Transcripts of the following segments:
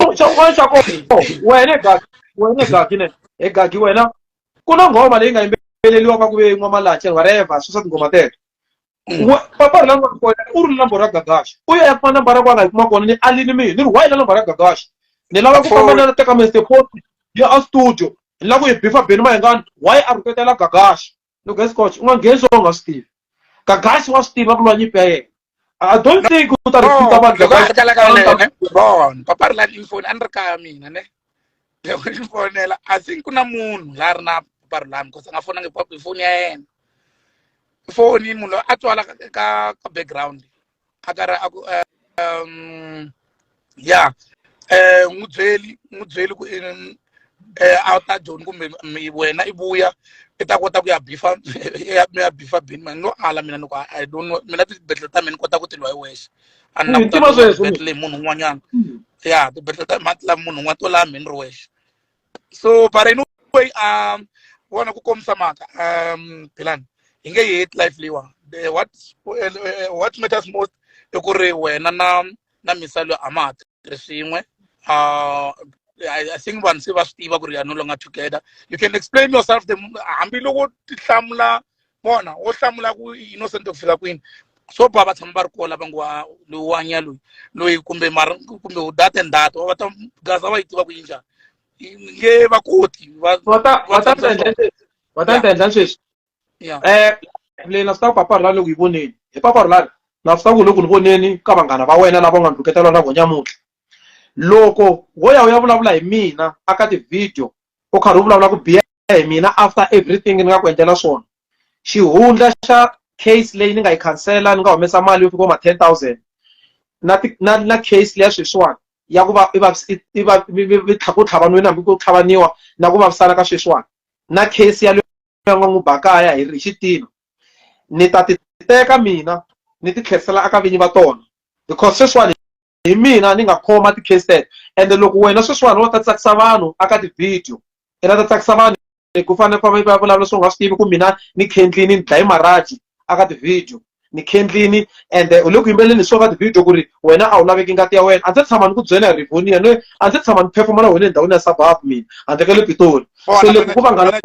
xin'wana xa kona wena egagi wena egagi ne egagi wena ku na nghoma leyi nga yimbeleliwaka ku ve n'wamalache whatever swi swa tinghoma teto papa ri la n'wana kona u ri number ra gagaxa u ya ya kuma number ra kwana hi kuma kona ni alini mina ni ri why la number ra gagaxa ni lava ku famba na teka mr port ya a studio ni lava ku yi bifa beni mahengani why a rhuketela gagaxa loko a scotch u nga ngheni swo u nga swi tivi gagasi wa swi tiva ku lwa nyimpi ya yena i don't think u ta recruita vanhu loko a gagasi hlekela ka yena ne bon papa ri la ni foni a ni ri kaya mina ne loko ni fonela i think ku na munhu la ri na papa ri lami because a nga fonangi papa hi foni ya yena foni munhu loyi a twala ka- ka ka background akara aku um ya eh n'wi byeli n'wi byeli ku eh a ta joni kumbe wena i vuya i ta kota ku ya bifa mi ya bifa bini mani no ala mina ni ku i don't know mina tibedhlela ta mina ni kota ku ti lwa hi wexe a ni na kutibedhlela hi munhu un'wanyana ya tibedhlela ta mati la munhu un'wana to laha mhini ri wexe so but anyway um vona ku komisa mhaka um philani hi nge yi hate life leyiwa The- what eh, eh, what matters most i ku ri wena na na misalo a ma ha tirhi swin'we uh, I, I think vanhu se va swi tiva ku ri you are no longer together you can explain yourself the hambiloko ti hlamula vona wo hlamula ku innocent ku fika kwini swo ba va tshama va ri kola va ngo wa loyi wa nya loyi loyi kumbe mara kumbe u data and data va ta gaza va yi tiva ku yi njhani nge va koti va va ta va ta tendla va ta tendla sweswi eh leyi na swi ta ku paparhula loko yi voneni hi paparhulani na swi ta ku loko ni voneni ka vanghana va wena lava nga ni rhuketela na vo nyamutlha loko wo ya u ya vulavula hi mina aka ti-video u karhi u vulavula ku biha hi mina after everything ni nga ku endlela swona xihundla xa case leyi ni nga yi khansela ni nga humesa mali yo fika ma ten thousand na na na case leya sweswiwani ya ku va i va i va ku tlhavanweni hambi ku tlhavaniwa na ku vavisana ka sweswiwani na case ya leyo nga n'wi bakaya hi xitino ni ta ti teka mina ni ti tlherisela aka vinyi va tona because sweswiwani hi mina ni nga khoma ti-case tete ende loko wena sweswiwani wa ta tsakisa vanhu aka ti-video ina ta tsakisa vanhu ku fanele ku va vulavula swo nga swi tivi ku mina ni khendlini ni dlaye maraji aka ti-video ni khendlini ende u le ku yimbeleni hi swo ka ti-video ku ri wena a wu laveki ngati ya wena a ndzi tshama ni ku byela hi rivonia ni a ndzi tshama ni phefuma na wena endhawini ya sababu mina handle ka le pitoli so loko ku vanghana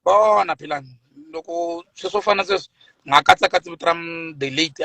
bona philani loko sweswo fana sweswo nga katsakatsi vito ra the late